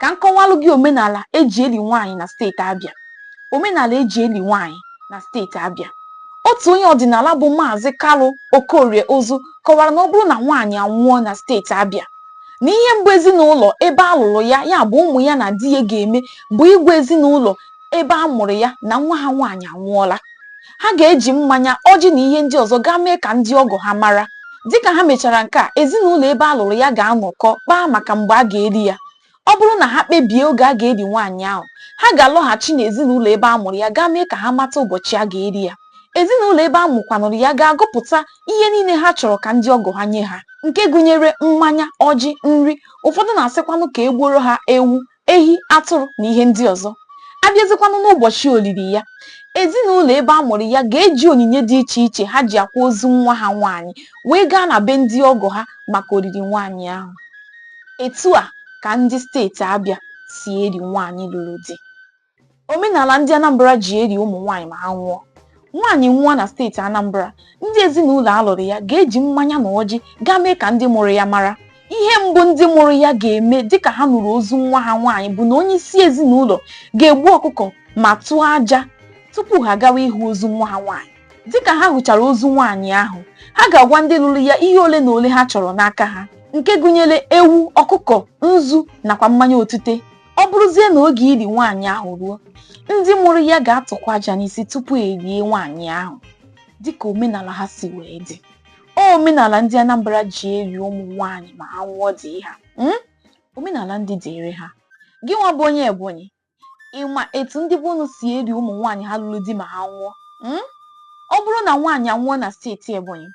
ka m kọwalụ gị omenala eji eli nwaanyị na steeti Abịa omenala eji eli nwaanyị na steeti Abịa otu onye ọdịnala bụ maazị Kalu Okorie Ozu kọwara na ọ bụrụ na nwaanyị anwụọ na steeti Abịa na ihe mbụ ezinụlọ ebe a lụrụ ya ya bụ ụmụ ya na di ya ga-eme bụ ịgwa ezinụlọ ebe a mụrụ ya na nwa ha nwaanyị anwụọla ha ga-eji mmanya ọjị na ihe ndị ọzọ gaa mee ka ndị ọgọ ha mara dịka ha mechara nke a ezinụlọ ebe a lụrụ ya ga-anọkọ kpaa maka mgbe a ga-eli ya ọ bụrụ na ha kpebie oge a ga-eli nwaanyị ahụ ha ga-alọghachi n'ezinụlọ ebe a mụrụ ya gaa mee ka ha mata ụbọchị a ga-eli ya ezinụlọ ebe a mụkwanụrụ ya ga-agụpụta ihe niile ha chọrọ ka ndị ọgọ ha nye ha nke gụnyere mmanya ọjị nri ụfọdụ na-asịkwanụ ka e gbuoro ha ewu ehi atụrụ na ihe ndị ọzọ a bịazikwanụ n'ụbọchị olili ya ezinụlọ ebe a mụrụ ya ga-eji onyinye dị iche iche ha ji akwa ozu nwa ha nwaanyị wee gaa na be ndị ọgọ ha maka olili nwaanyị ahụ etu a ka ndị steeti Abịa si eli nwaanyị lụrụ di Omenala ndị Anambra ji eli ụmụ nwaanyị ma ha nwụọ. Nwaanyị nwụọ na steeti Anambra, ndị ezinụlọ a lụrụ ya ga-eji mmanya na ọjị gaa mee ka ndị mụrụ ya mara. Ihe mbụ ndị mụrụ ya ga-eme dịka ha nụrụ ozu nwa ha nwaanyị bụ na onye isi ezinụlọ ga-egbu ọkụkọ ma tụọ aja tupu ha gawa ịhụ ozu nwa ha nwaanyị. Dịka ha hụchara ozu nwaanyị ahụ, ha ga-agwa ndị lụrụ ya ihe ole na ole ha chọrọ n'aka ha nke gụnyere ewu, ọkụkọ, nzu nakwa mmanya otu ite. ọ bụrụzie na oge ili nwaanyị ahụ ruo ndị mụrụ ya ga-atụkwa aja n'isi tupu e lie nwaanyị ahụ dịka omenala ha si wee dị omenala ndị Anambra ji eli ụmụ nwaanyị ma ha nwụọ dị ha hmm? omenala ndị dịịrị ha gị nwa bụ onye Ebonyi ị ma etu ndị be unu si eli ụmụ nwaanyị ha lụrụ di ma ha nwụọ hmm? Ọ bụrụ na nwaanyị anwụọ na steeti Ebonyi,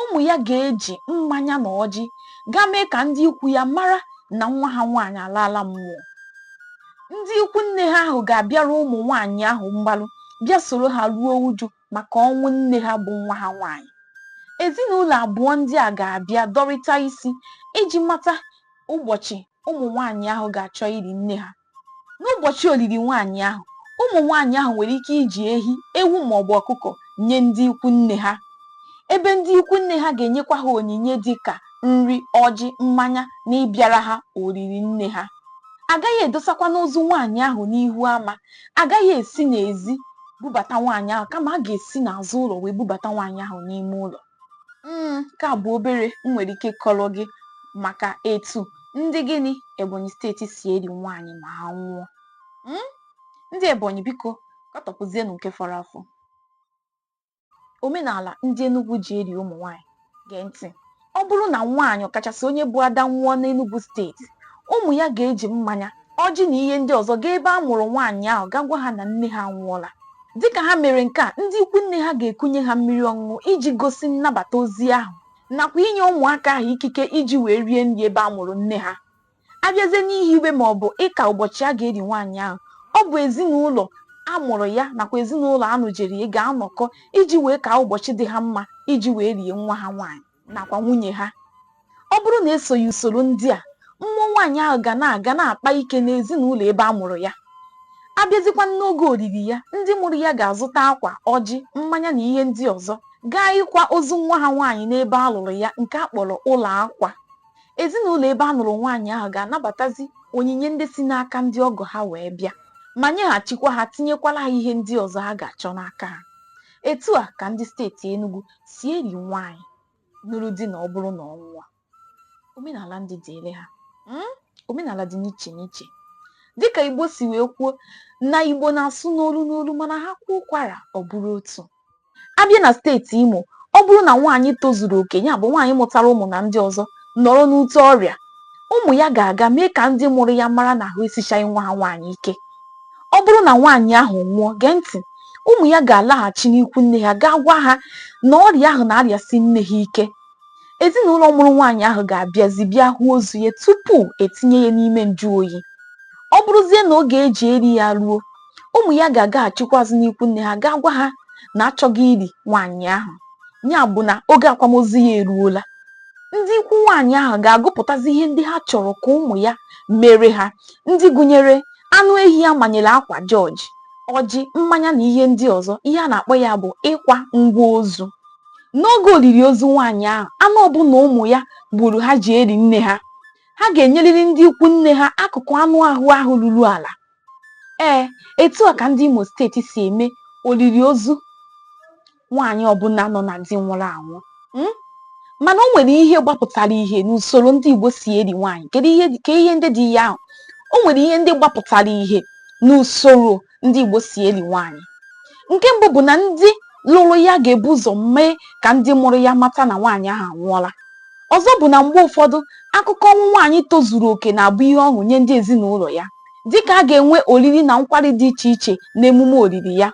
ụmụ ya ga-eji mmanya na ọjị gaa mee ka ndị ikwu ya mara na nwa ha nwaanyị alaala mmụọ. Ndị ikwu nne ha ahụ ga-abịara ụmụ nwaanyị ahụ mgbalụ bịa soro ha ruo uju maka ọnwụ nne ha bụ nwa ha nwaanyị. Ezinụlọ abụọ ndị a ga-abịa dọrịta isi iji mata ụbọchị ụmụ nwaanyị ahụ ga-achọ ili nne ha. N'ụbọchị olili nwaanyị ahụ, ụmụ nwaanyị ahụ nwere ike iji ehi, ewu ma ọ bụ ọkụkọ nye ndị ikwu nne ha, ebe ndị ikwu nne ha ga-enyekwa ha onyinye dị ka nri, ọjị, mmanya na ịbịara ha olili nne ha. A gaghị edosakwanụ ozu nwaanyị ahụ n'ihu ama. A gaghị esi n'ezi bubata nwaanyị ahụ kama a ga-esi n'azụ ụlọ wee bubata nwaanyị ahụ n'ime ụlọ. Mm, nke a bụ obere m nwere ike kọrọ gị maka etu ndị gịnị Ebonyi steeti si eri nwaanyị ma ha nwụọ. Mm, ndị Ebonyi biko katọpụzienụ nke fọrọ afọ. Omenala ndị Enugwu ji eri ụmụ nwaanyị gee ntị. Ọ bụrụ na nwaanyị ọkachasị onye bụ ada nwụọ n'Enugwu steeti, ụmụ ya ga-eji mmanya ọjị na ihe ndị ọzọ gaa ebe a mụrụ nwaanyị ahụ gaa gwa ha na nne ha anwụọla dịka ha mere nke a ndị ikwu nne ha ga-ekunye ha mmiri ọṅụṅụ iji gosi nnabata ozi ahụ nakwa inye ụmụaka ahụ ikike iji wee rie nri ebe a mụrụ nne ha abịazie n'ihiwe ma ọ bụ ịka ụbọchị a ga-eri nwaanyị ahụ ọ bụ ezinụlọ a mụrụ ya nakwa ezinụlọ a nụjere ya ga-anọkọ iji wee ka ụbọchị dị ha mma iji wee rie nwa ha nwaanyị nakwa nwunye ha ọ bụrụ na esoghị usoro ndị a mmụọ nwaanyị ahụ ga na-aga na-akpa ike n'ezinụlọ ebe a mụrụ ya abịazikwa n'oge oriri ya ndị mụrụ ya ga-azụta akwa ọjị mmanya na ihe ndị ọzọ gaa ịkwa ozu nwa ha nwaanyị n'ebe a lụrụ ya nke a kpọrọ ụlọ akwa ezinụlọ ebe a nụrụ nwaanyị ahụ ga-anabatazi onyinye ndị si n'aka ndị ọgọ ha wee bịa ma nyeghachikwa ha tinyekwala ha ihe ndị ọzọ ha ga-achọ n'aka ha etu a ka ndị steeti Enugu si eri nwaanyị nụrụ di na ọ bụrụ na ọ nwụọ omenala ndị dịịrị ha hmm? omenala dị n'iche n'iche dịka Igbo si wee kwuo na Igbo na-asụ n'olu n'olu mana ha kwuo ụkwara ọ bụrụ otu abịa na steeti Imo ọ bụrụ na nwaanyị tozuru oke ya bụ nwaanyị mụtara ụmụ na ndị ọzọ nọrọ n'ute ọrịa ụmụ ya ga-aga mee ka ndị mụrụ ya mara na ahụ esichaghị nwa ha nwaanyị ike. Ọ bụrụ na nwaanyị ahụ nwụọ, gee ntị, ụmụ ya ga-alaghachi n'ikwu nne ha gaa gwa ha na ọrịa ahụ na-arịasi nne ha ike. Ezinụlọ mụrụ nwaanyị ahụ ga-abịazi bịa hụ ozu ya tupu etinye ya n'ime njụ oyi. Ọ bụrụzie na oge eji eri ya ruo, ụmụ ya ga-agaghachikwazi n'ikwu nne ha gaa gwa ha na achọgo iri nwaanyị ahụ ya bụ na oge akwamozu ya eruola ndị ikwu nwaanyị ahụ ga-agụpụtazi ihe ndị ha chọrọ ka ụmụ ya mere ha ndị gụnyere anụ ehi a manyere akwa jọji ọjị mmanya na ihe ndị ọzọ ihe a na-akpọ ya bụ ịkwa ngwa ozu n'oge olili ozu nwaanyị ahụ anụ ọbụla ụmụ ya gburu ha ji eri nne ha ha ga-enyerịrị ndị ikwu nne ha akụkụ anụ ahụ ahụ ruru ala Ee, etu a ka ndị Imo steeti si eme olili ozu nwaanyị ọbụla nọ na di nwụrụ anwụ hmm? mana o nwere ihe gbapụtara ihe n'usoro ndị Igbo si eri nwaanyị kedu ihe ndị dị ya ahụ o nwere ihe ndị gbapụtara ihe n'usoro ndị Igbo si eri nwaanyị nke mbụ bụ na ndị lụrụ ya ga-ebu ụzọ mee ka ndị mụrụ ya mata na nwaanyị ahụ anwụọla ọzọ bụ na mgbe ụfọdụ akụkọ ọnwụ nwaanyị tozuru oke na-abụ ihe ọṅụ nye ndị ezinụlọ ya dịka a ga-enwe oriri na nkwari dị iche iche na emume olili ya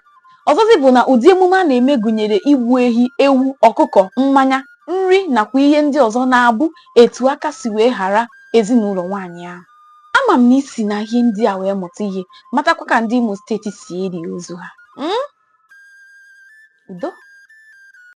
ọzọzi bụ na ụdị emume a na-eme gụnyere igbu ehi ewu ọkụkọ mmanya nri nakwa ihe ndị ọzọ na-abụ etu aka si wee ghara ezinụlọ nwaanyị ahụ ama m na i si na ihe ndị a wee mụta ihe matakwa ka ndị Imo steeti si eli ozu ha udo